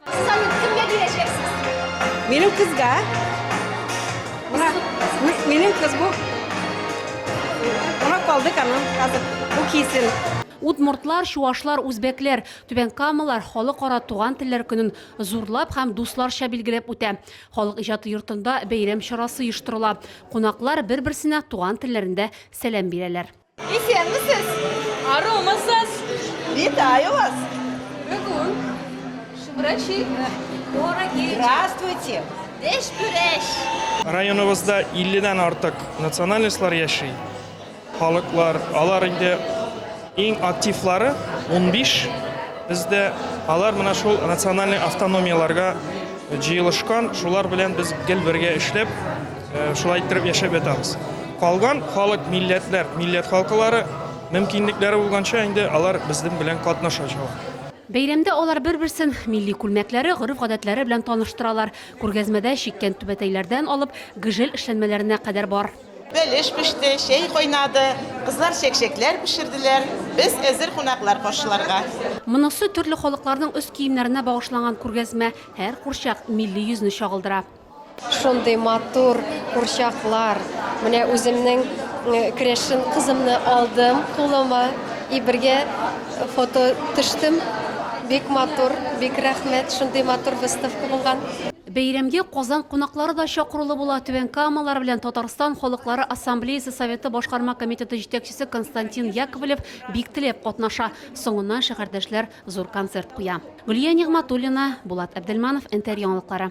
Салют, кемгә бирәчәксез? Минем кызга. Мына, минем кыз бу. Мына калды каным, хәзер бу кисен. Удмуртлар, чуашлар, үзбәкләр, түбәнкамалар Халыкара туган телләр көнен зурлап һәм дусларча билгеләп үтә. Халык иҗаты йортында бәйрәм чарасы оештырыла. Кунаклар бер-берсенә туган телләрендә сәлам бирәләр. Исәнмесез! Арумысыз! Витаю вас! Бүгін шыбрачи дороги. Здравствуйте! Деш бүрәш! Районыбызда 50-дән артык национальностьлар яши. Халыклар, алар инде иң активлары 15. Бездә алар менә шул национальный автономияләргә җыелышкан. Шулар белән без гел бергә эшләп, Шулай иттереп яшәп ятабыз. Калган халык, милләтләр, милләт халкылары мөмкинлекләре булганча инде алар безнең белән катнашачак. Бәйрәмдә алар бер-берсен милли күлмәкләре, гореф-гадәтләре белән таныштыралар. Күргәзмәдә чиккән түбәтәйләрдән алып гжель эшләнмәләренә кадәр бар. Бәлеш пеште, чәй кайнады, кызлар чәкчәкләр пешерделәр. Без әзер кунаклар каршыларга. Монысы төрле халыкларның өс киемнәренә багышланган күргәзмә. Һәр курчак милли йөзне чагылдыра. Шундый матур курчаклар. Менә үземнең крәшен кызымны алдым кулыма и бергә фото төштем. Бик матур, бик рәхмәт, шундый матур выставка булган. Бәйрәмгә Казан кунаклары да чакырулы була, Түбән Камалар белән Татарстан Халыклары Ассамблеясе Советы Башкарма комитеты җитәкчесе Константин Яковлев бик теләп катнаша, соңыннан шәһәрдәшләр зур концерт куя. Гөлия Нигъматуллина, Булат Әбделманов, НТР яңалыклары.